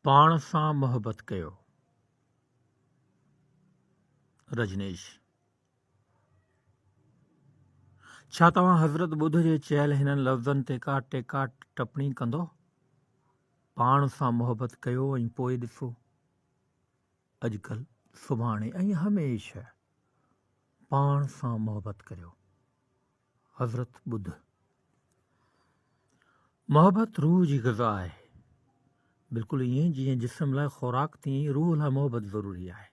پاڻ سان محبت ڪيو. رجنيش، ڇا توهان حضرت ٻڌ جي چيل هنن لفظن تي ڪا ٽيڪا ٽپڻي ڪندو؟ پاڻ سان محبت ڪيو ۽ پوء ڏسو. اڄڪلهه، سڀاڻي ۽ هميشه پاڻ سان محبت ڪريو. حضرت ٻڌ، محبت روح جي غذا آهي، بلڪل ائين جيئن جسم لاء خوراڪ تيئن ئي روح لاء محبت ضروري آهي.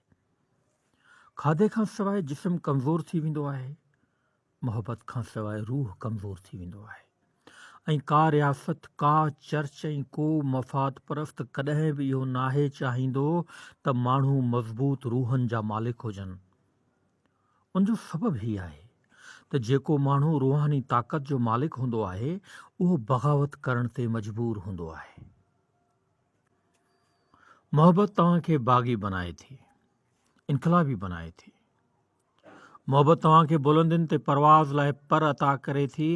کاڌي کان سواء جسم ڪمزور ٿي ويندو آهي، محبت کان سواء روح ڪمزور ٿي ويندو آهي ۽ ڪا رياست، ڪا چرچ ۽ ڪو مفاد پرست ڪڏهن به اهو ناهي چاهيندو ته ماڻهو مضبوط روحن جا مالڪ هجن. ان جو سبب هي آهي ته جيڪو ماڻهو روحاني طاقت جو مالڪ هوندو آهي اهو بغاوت ڪرڻ تي مجبور هوندو آهي. محبت توهان کي باغي بنائي ٿي، انقلابي بنائي ٿي. محبت توهان کي بلندين تي پرواز لاء پر عطا ڪري ٿي،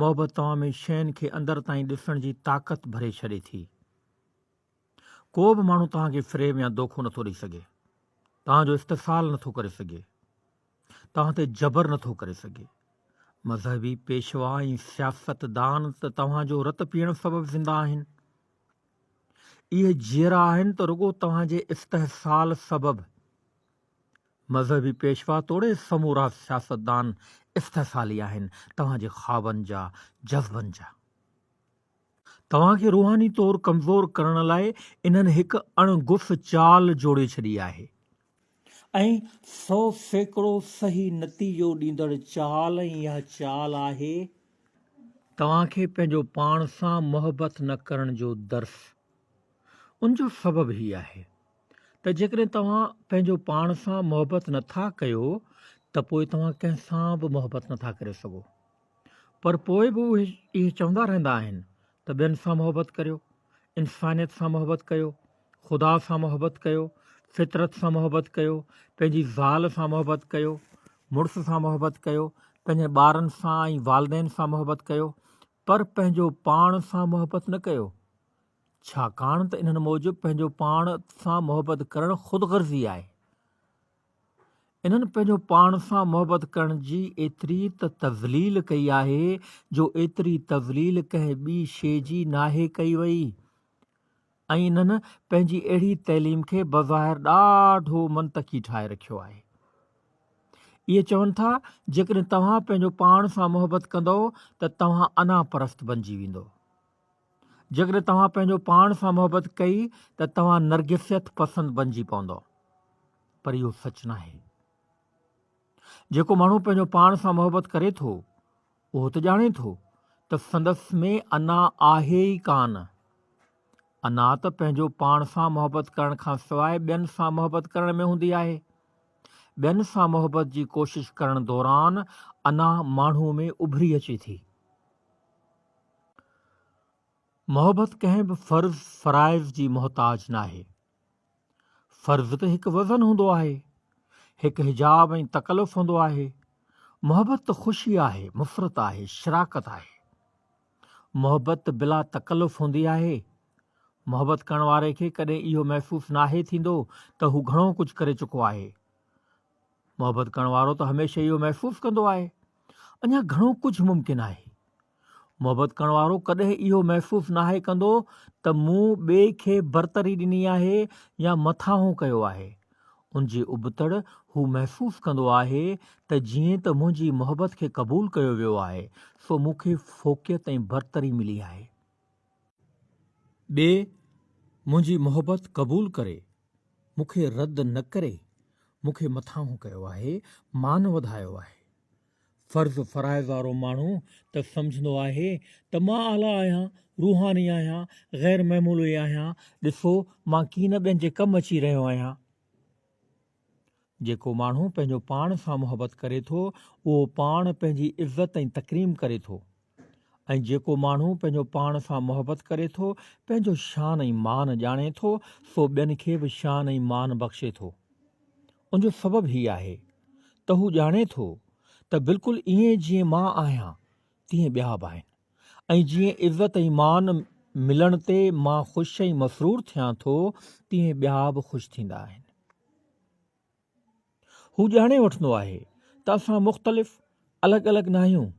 محبت توهان ۾ شين کي اندر تائين ڏسڻ جي طاقت ڀري ڇڏي ٿي. ڪو به ماڻهو توهان کي فريب يا دوکو نه ٿو ڏئي سگهي، توهان جو استحصال نه ٿو ڪري سگهي، توهان تي جبر نه ٿو ڪري سگهي. مذهبي پيشوا ۽ سياستدان ته توهان جو رت پيئڻ سبب زنده آهن. اهي جيئرا آهن ته رڳو توهان جي استحصال سبب. مذهبي پيشوا توڙي سمورا سياستدان استحصالي آهن، توهان جي خوابن جا، جذبن جا. توهان کي روحاني طور ڪمزور ڪرڻ لاء انهن هڪ اڻ گف چال جوڙي ڇڏي آهي ۽ سو سيڪڙو صحيح نتيجو ڏيندڙ چال ۽ اها چال آهي توهان کي پنهنجو پاڻ سان محبت نه ڪرڻ جو درس ان جو سبب هي آهي ته جيڪڏهن توهان پنهنجو پاڻ سان محبت نٿا ڪيو ته پوء توهان ڪنهن سان به محبت نٿا ڪري سگهو پر پوء به اهي اهي چوندا رهندا آهن ته ٻين سان محبت ڪريو، انسانيت سان محبت ڪيو، خدا سان محبت ڪيو، فطرت سان محبت ڪيو، پنهنجي زال سان محبت ڪيو، مڙس سان محبت ڪيو، پنهنجن ٻارن سان ۽ والدين سان محبت ڪيو، پر پنهنجو پاڻ سان محبت نه ڪيو، ڇاڪاڻ ته انهن موجب پنهنجو پاڻ سان محبت ڪرڻ خود غرضي آهي. انهن پنهنجو پاڻ سان محبت ڪرڻ جي ايتري ته تذليل ڪئي آهي جو ايتري تذليل ڪنهن ٻي شيء جي ناهي ڪئي وئي ۽ انهن پنهنجي اهڙي تعليم کي بظاهر ڏاڍو منطقي ٺاهي رکيو آهي. اهي چون ٿا جيڪڏهن توهان پنهنجو پاڻ سان محبت ڪندؤ ته توهان انا پرست بنجي ويندؤ. جيڪڏهن توهان پنهنجو پاڻ سان محبت ڪئي ته توهان نرگسيت پسند بنجي پوندو پر اهو سچ ناهي جيڪو ماڻهو پنهنجو پاڻ سان محبت ڪري ٿو اهو ته ڄاڻي ٿو ته سندس ۾ انا آهي ئي ڪان انا ته پنهنجو پاڻ سان محبت ڪرڻ کان سواء ٻين سان محبت ڪرڻ ۾ هوندي آهي ٻين سان محبت جي ڪوشش ڪرڻ دوران انا ماڻهو ۾ اڀري اچي ٿي محبت ڪنهن به فرض فرائض جي محتاج ناهي. فرض ته هڪ وزن هوندو آهي، هڪ حجاب ۽ تڪلف هوندو آهي. محبت ته خوشي آهي، مفرت آهي، شراڪت آهي. محبت ته بلا تڪلف هوندي آهي. محبت ڪرڻ واري کي ڪڏهن اهو محسوس ناهي ٿيندو ته هو گهڻو ڪجهه ڪري چڪو آهي. محبت ڪرڻ وارو ته هميشه اهو محسوس ڪندو آهي اڃا گهڻو ڪجهه ممڪن آهي. محبت ڪرڻ وارو ڪڏهن اهو محسوس ناهي ڪندو ته مون ٻئي کي برتري ڏني آهي يا مٿانهون ڪيو آهي. ان جي ابتڙ هو محسوس ڪندو آهي ته جيئن ته منهنجي محبت کي قبول ڪيو ويو آهي سو مون کي فوقيت ۽ برتري ملي آهي. ٻي منهنجي محبت قبول ڪري، مون کي رد نه ڪري، مون کي مٿانهون ڪيو آهي، مان وڌايو آهي. فرض فرائض وارو ماڻهو ته سمجهندو آهي ته مان اعليٰ آهيان، روحاني آهيان، غير معمولي آهيان، ڏسو مان ڪين ٻين جي ڪم اچي رهيو آهيان. جيڪو ماڻهو پنهنجو پاڻ سان محبت ڪري ٿو اهو پاڻ پنهنجي عزت ۽ تڪريم ڪري ٿو ۽ جيڪو ماڻهو پنهنجو پاڻ سان محبت ڪري ٿو پنهنجو شان ۽ مان ڄاڻي ٿو سو ٻين کي به شان ۽ مان بخشي ٿو ان جو سبب هي آهي ته هو ڄاڻي ٿو ته بلڪل ائين جيئن مان آهيان تيئن ٻيا به آهن ۽ جيئن عزت ۽ مان ملڻ تي مان خوش ۽ مسرور ٿيان ٿو، تيئن ٻيا به خوش ٿيندا آهن. هو ڄاڻي وٺندو آهي ته اسان مختلف، الڳ الڳ ناهيون.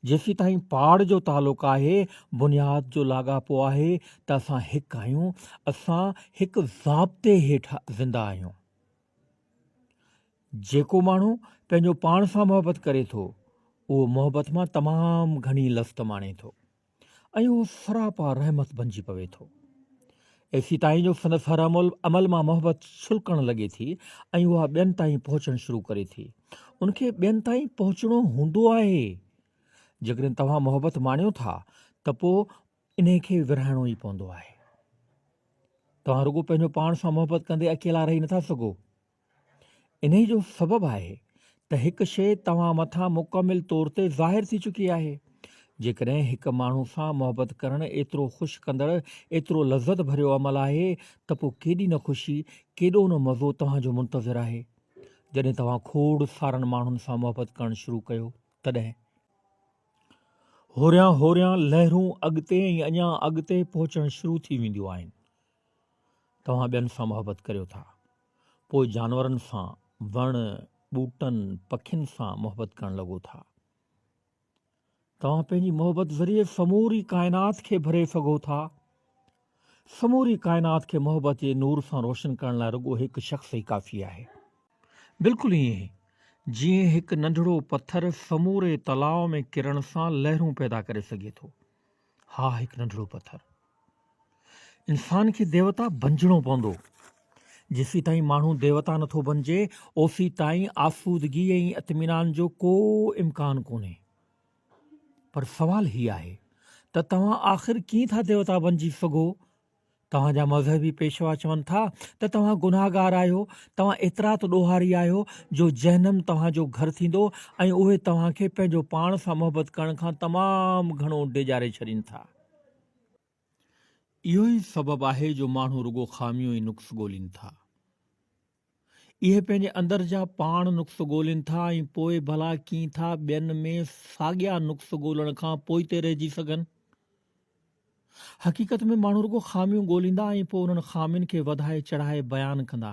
جيسيتائين پاڙ جو تعلق آهي، بنياد جو لاڳاپو آهي ته اسان هڪ آهيون، اسان هڪ ضابطي هيٺ زنده آهيون. جيڪو ماڻهو پنهنجو پاڻ سان محبت ڪري ٿو، اهو محبت مان تمام گهڻي لذت ماڻي ٿو ۽ اهو سراپا رحمت بنجي پوي ٿو. ايسي تائين جو سندس هر عمل عمل مان محبت ڇلڪڻ لڳي ٿي ۽ اها ٻين تائين پهچڻ شروع ڪري ٿي. ان کي ٻين تائين پهچڻو هوندو آهي. جيڪڏهن توهان محبت ماڻيو ٿا ته پوء انهيء کي ورهائڻو ئي پوندو آهي. توهان رڳو پنهنجو پاڻ سان محبت ڪندي اڪيلا رهي نٿا سگهو. انهيء جو سبب آهي ته هڪ شيء توهان مٿان مڪمل طور تي ظاهر ٿي چڪي آهي. جيڪڏهن هڪ ماڻهو سان محبت ڪرڻ ايترو خوش ڪندڙ، ايترو لذت ڀريو عمل آهي ته پوء ڪيڏي نه خوشي، ڪيڏو نه مزو توهان جو منتظر آهي. جڏهن توهان کوڙ سارن ماڻهن سان محبت ڪرڻ شروع ڪيو، تڏهن. هوريان هوريان لهرون اڳتي ۽ اڃا اڳتي پهچڻ شروع ٿي وينديون آهن. توهان ٻين سان محبت ڪريو ٿا. پوء جانورن سان، وڻ، ٻوٽن، پکين سان محبت ڪرڻ لڳو ٿا. توهان پنهنجي محبت ذريعي سموري ڪائنات کي ڀري سگهو ٿا. سموري ڪائنات کي محبت جي نور سان روشن ڪرڻ لاء رڳو هڪ شخص ئي ڪافي آهي. بلڪل ائين جيئن هڪ ننڍڙو پٿر سموري تلاء ۾ ڪرڻ سان لهرون پيدا ڪري سگهي ٿو. ها هڪ ننڍڙو پٿر. انسان کي ديوتا بنجڻو پوندو. جيسي تائين ماڻهو ديوتا نٿو بنجي اوسي تائين آسودگي ۽ اطمينان جو ڪو امڪان ڪونهي. پر سوال هي آهي ته توهان آخر ڪيئن ٿا ديوتا بنجي سگهو؟ توهان جا مذهبي پيشوا چون ٿا ته توهان گناهگار آهيو، توهان ايترا ته ڏوهاري آهيو جو جهنم توهان جو گهر ٿيندو ۽ اهي توهان کي پنهنجو پاڻ سان محبت ڪرڻ کان تمام گهڻو ڊيڄاري ڇڏين ٿا. اهو ئي سبب آهي جو ماڻهو رڳو خاميون ۽ نقص ڳولين ٿا. اهي پنهنجي اندر جا پاڻ نقص ڳولين ٿا ۽ پوء ڀلا ڪيئن ٿا ٻين ۾ ساڳيا نقص ڳولڻ کان پوئتي رهجي سگهن؟ حقيقت ۾ ماڻهو رڳو خاميون ڳوليندا ۽ پوء انهن خامين کي وڌائي چڙهائي بيان ڪندا.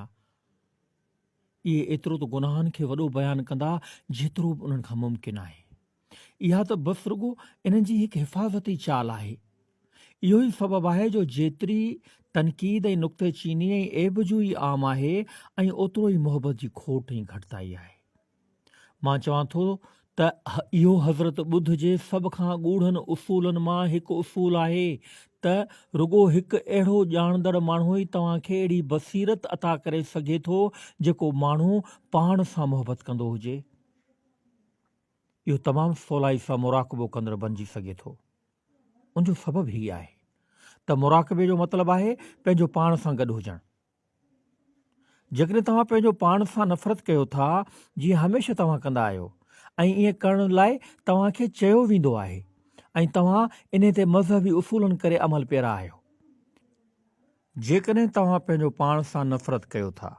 اهي ايترو ته گناهن کي وڏو بيان ڪندا جيترو به انهن کان ممڪن آهي. اها ته بس رڳو انهن جي هڪ حفاظتي چال آهي. اهو ئي سبب آهي جو جيتري تنقيد ۽ نڪته چيني ۽ عيب جوئي عام آهي ۽ اوترو ئي محبت جي کوٽ ۽ گهٽتائي آهي. مان چوان ٿو ته اهو حضرت ٻڌ جي سڀ کان ڳوڙهن اصولن مان هڪ اصول آهي ته رڳو هڪ اهڙو ڄاڻندڙ ماڻهو ئي توهان کي اهڙي بصيرت عطا ڪري سگهي ٿو جيڪو ماڻهو پاڻ سان محبت ڪندو هجي. اهو تمام سولائي سان مراقبو ڪندڙ بنجي سگهي ٿو. ان جو سبب هي آهي ته مراقبي جو مطلب آهي پنهنجو پاڻ سان گڏ هجڻ. جيڪڏهن توهان پنهنجو پاڻ سان نفرت ڪيو ٿا جيئن هميشه توهان ڪندا آهيو ۽ ائين ڪرڻ لاء توهان کي چيو ويندو آهي ۽ توهان انهي تي مذهبي اصولن ڪري عمل پيرا آهيو. جيڪڏهن توهان پنهنجو پاڻ سان نفرت ڪيو ٿا.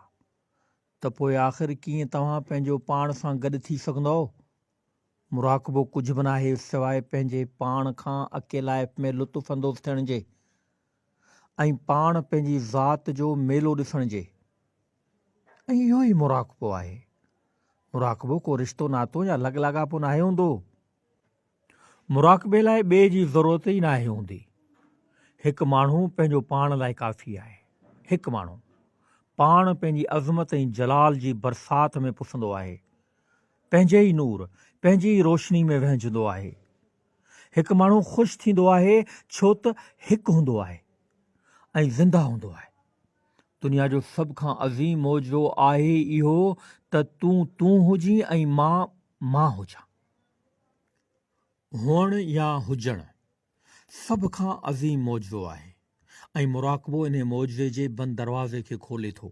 ته پوء آخر ڪيئن توهان پنهنجو پاڻ سان گڏ ٿي سگهندؤ؟ مراقبو ڪجهه به ناهي سواء پنهنجي پاڻ کان اڪيلائپ ۾ لطف اندوز ٿيڻ جي ۽ پاڻ پنهنجي ذات جو ميلو ڏسڻ جي. ۽ اهو ئي مراقبو آهي. مراقبو ڪو رشتو ناتو يا لڳ لاڳاپو ناهي هوندو. مراقبي لاء ٻئي جي ضرورت ئي ناهي هوندي. هڪ ماڻهو پنهنجو پاڻ لاء ڪافي آهي. هڪ ماڻهو پاڻ پنهنجي عظمت ۽ جلال جي برسات ۾ پسندو آهي. پنهنجي ئي نور، پنهنجي ئي روشني ۾ وهنجندو آهي. هڪ ماڻهو خوش ٿيندو آهي ڇو ته هڪ هوندو آهي ۽ زنده هوندو آهي. دنيا جو سڀ کان عظيم معجزو آهي ئي اهو ته تون تون هجين ۽ مان مان هجان. هئڻ يا هجڻ سڀ کان عظيم معجزو آهي ۽ مراقبو انهي معجزي جي بند دروازي کي کولي ٿو.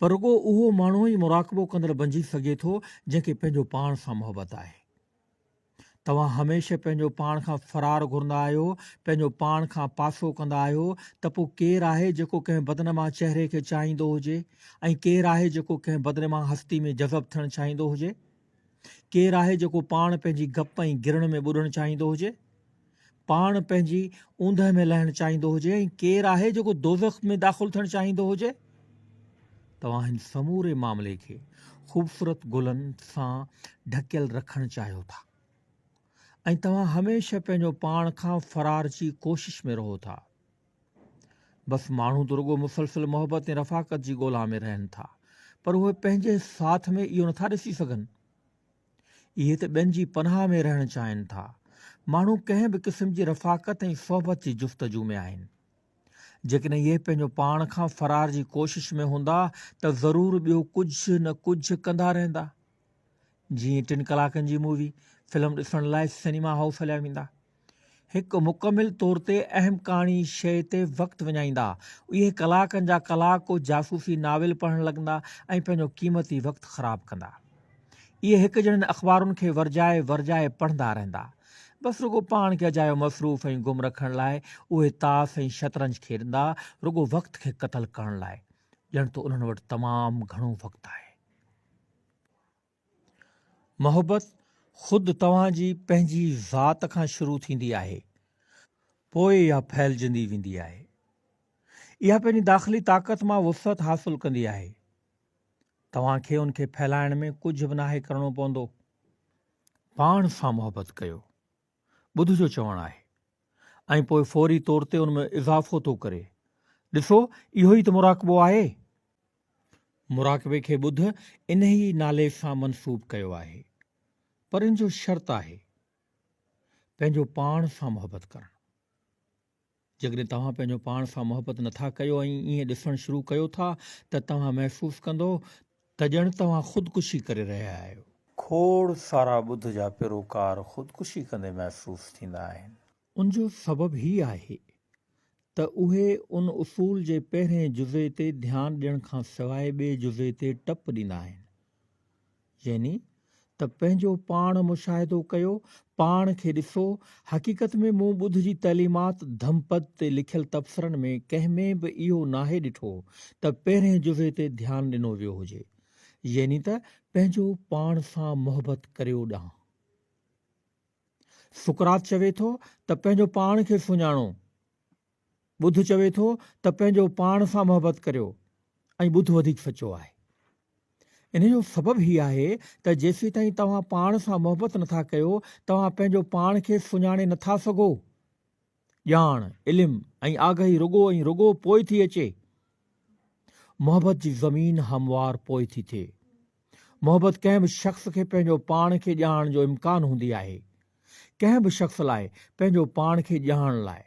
پر رڳو اهو ماڻهو ئي مراقبو ڪندڙ بنجي سگهي ٿو جنهن کي پنهنجو پاڻ سان محبت آهي. توهان هميشه پنهنجو پاڻ کان فرار گهرندا آهيو، پنهنجو پاڻ کان پاسو ڪندا آهيو ته پوء ڪير آهي جيڪو ڪنهن بدنما چهري کي چاهيندو هجي ۽ ڪير آهي جيڪو ڪنهن بدنما هستي ۾ جذب ٿيڻ چاهيندو هجي؟ ڪير آهي جيڪو پاڻ پنهنجي گپ ۽ گرڻ ۾ ٻڏڻ چاهيندو هجي؟ پاڻ پنهنجي اوندهه ۾ لهڻ چاهيندو هجي ۽ ڪير آهي جيڪو دوزخ ۾ داخل ٿيڻ چاهيندو هجي؟ توهان هن سموري معاملي کي خوبصورت گلن سان ڍڪيل رکڻ چاهيو ٿا ۽ توهان هميشه پنهنجو پاڻ کان فرار جي ڪوشش ۾ رهو ٿا. بس ماڻهو ته رڳو مسلسل محبت ۽ رفاقت جي ڳولا ۾ رهن ٿا پر اهي پنهنجي ساٿ ۾ اهو نٿا ڏسي سگهن اهي ته ٻين جي پناهه ۾ رهڻ چاهين ٿا ماڻهو ڪنهن به قسم جي رفاقت ۽ صحبت جي جستجو ۾ آهن جيڪڏهن اهي پنهنجو پاڻ کان فرار جي ڪوشش ۾ هوندا ته ضرور ٻيو ڪجهه نه ڪجهه ڪندا رهندا جيئن ٽن ڪلاڪن جي مووي فلم ڏسڻ لاء سئنيما هائوس هليا ويندا. هڪ مڪمل طور تي اهم ڪهاڻي شيء تي وقت وڃائيندا. اهي ڪلاڪن جا ڪلاڪ ڪو جاسوسي ناول پڙهڻ لڳندا ۽ پنهنجو قيمتي وقت خراب ڪندا. اهي هڪ جهڙين اخبارن کي ورجائي ورجائي پڙهندا رهندا. بس رڳو پاڻ کي اجايو مصروف ۽ گم رکڻ لاء اهي تاس ۽ شطرنج کيڏندا، رڳو وقت کي قتل ڪرڻ لاء. ڄڻ ته انهن وٽ تمام گهڻو وقت آهي. محبت خود توهان جي پنهنجي ذات کان شروع ٿيندي آهي پوء اها ڦهلجندي ويندي آهي اها پنهنجي داخلي طاقت مان وسعت حاصل ڪندي آهي توهان کي ان کي ڦهلائڻ ۾ ڪجهه به ناهي ڪرڻو پوندو پاڻ سان محبت ڪيو ٻڌ جو چوڻ آهي ۽ پوء فوري طور تي ان ۾ اضافو ٿو ڪري. ڏسو اهو ئي ته مراقبو آهي. مراقبي کي ٻڌ انهي نالي سان منسوب ڪيو آهي پر ان جو شرط آهي پنهنجو پاڻ سان محبت ڪرڻ. جيڪڏهن توهان پنهنجو پاڻ سان محبت نٿا ڪيو ۽ ائين ڏسڻ شروع ڪيو ٿا ته توهان محسوس ڪندو ته ڄڻ توهان خودڪشي ڪري رهيا آهيو. کوڙ سارا ٻڌ جا پيروڪار خودڪشي ڪندي محسوس ٿيندا آهن. ان جو سبب هي آهي ته اهي ان اصول جي پهرئين جزي تي ڌيان ڏيڻ کان سواء ٻئي جزي تي ٽپ ڏيندا آهن. يعني ته پنهنجو پاڻ مشاهدو ڪيو، پاڻ کي ڏسو، حقيقت ۾ مون ٻڌ جي تعليمات ڌم پد تي لکيل تبصرن ۾ ڪنهن ۾ به اهو ناهي ڏٺو ته پهرئين جزي تي ڌيان ڏنو ويو هجي. يعني ته پنهنجو پاڻ سان محبت ڪريو ڏانهن. سقراط چوي ٿو ته پنهنجو پاڻ کي سڃاڻو. ٻڌ چوي ٿو ته پنهنجو پاڻ سان محبت ڪريو ۽ ٻڌ وڌيڪ سچو آهي. ان جو سبب هي آهي ته جيسيتائين توهان پاڻ سان محبت نٿا ڪيو توهان پنهنجو پاڻ کي سڃاڻي نٿا سگهو. ڄاڻ، علم ۽ آگهي رڳو ۽ رڳو پوء ٿي اچي. محبت جي زمين هموار پوء ٿي ٿئي. محبت ڪنهن به شخص کي پنهنجو پاڻ کي ڄاڻڻ جو امڪان هوندي آهي. ڪنهن به شخص لاء پنهنجو پاڻ کي ڄاڻڻ لاء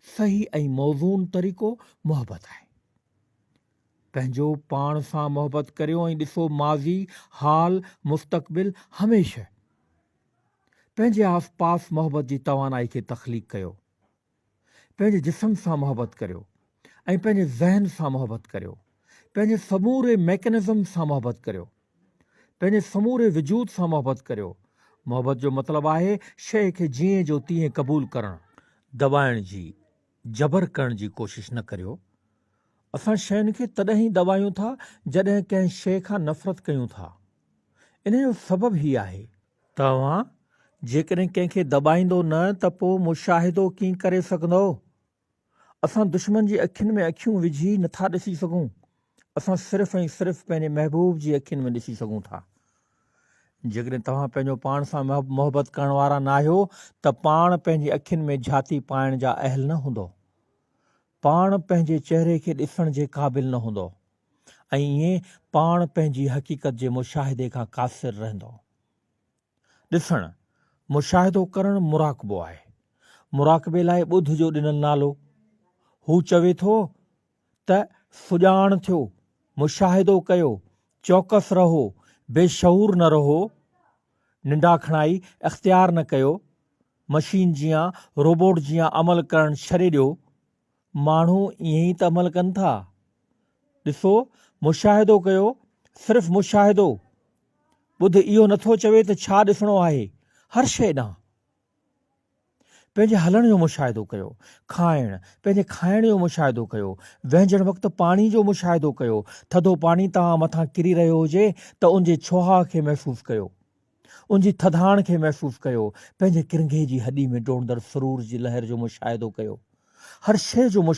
صحيح ۽ موزون طريقو محبت آهي. پنهنجو پاڻ سان محبت ڪريو ۽ ڏسو ماضي، حال، مستقبل هميشه پنهنجي آس پاس محبت جي توانائي کي تخليق ڪيو. پنهنجي جسم سان محبت ڪريو ۽ پنهنجي ذهن سان محبت ڪريو، پنهنجي سموري ميڪنزم سان محبت ڪريو، پنهنجي سموري وجود سان محبت ڪريو، محبت جو مطلب آهي شيء کي جيئن جو تيئن قبول ڪرڻ. دٻائڻ جي، جبر ڪرڻ جي ڪوشش نه ڪريو، اسان شين کي تڏهن ئي دٻايون ٿا جڏهن ڪنهن شيء کان نفرت ڪيون ٿا، انهيء جو سبب هي آهي. توهان جيڪڏهن ڪنهن کي دٻائيندو نه ته پوء مشاهدو ڪيئن ڪري سگهندؤ؟ اسان دشمن جي اکين ۾ اکيون وجهي نه ٿا ڏسي سگهون، اسان صرف ۽ صرف پنهنجي محبوب جي اکين ۾ ڏسي سگهون ٿا. جيڪڏهن توهان پنهنجو پاڻ سان محبت ڪرڻ وارا ناهيو ته پاڻ پنهنجي اکين ۾ جهاتي پائڻ جا اهل نه هوندؤ. پاڻ پنهنجي چهري کي ڏسڻ جي قابل نه هوندؤ. ۽ ائين پاڻ پنهنجي حقيقت جي مشاهدي کان قاصر رهندو. ڏسڻ، مشاهدو ڪرڻ مراقبو آهي. مراقبي لاء ٻڌ جو ڏنل نالو. هو چوي ٿو ته سڄاڻ ٿيو، مشاهدو ڪيو، چوڪس رهو، بي شعور نه رهو، ننڊاکڻائي اختيار نه ڪيو، مشين جيان، روبوٽ جيان عمل ڪرڻ ڇڏي ڏيو، ماڻهو ائين ئي ته عمل ڪن ٿا. ڏسو، مشاهدو ڪيو، صرف مشاهدو. ٻڌ اهو نٿو چوي ته ڇا ڏسڻو آهي، هر شيء ڏانهن. پنهنجي هلڻ جو مشاهدو ڪيو، کائڻ، پنهنجي کائڻ جو مشاهدو ڪيو، وهنجڻ وقت پاڻي جو مشاهدو ڪيو، ٿڌو پاڻي توهان مٿان ڪري رهيو هجي ته ان جي ڇوهاء کي محسوس ڪيو. ان جي ٿڌاڻ کي محسوس ڪيو، پنهنجي ڪرنگهي جي هڏي ۾ ڊوڙندڙ سرور جي لهر جو مشاهدو ڪيو. هر شيء جو مشاهدو.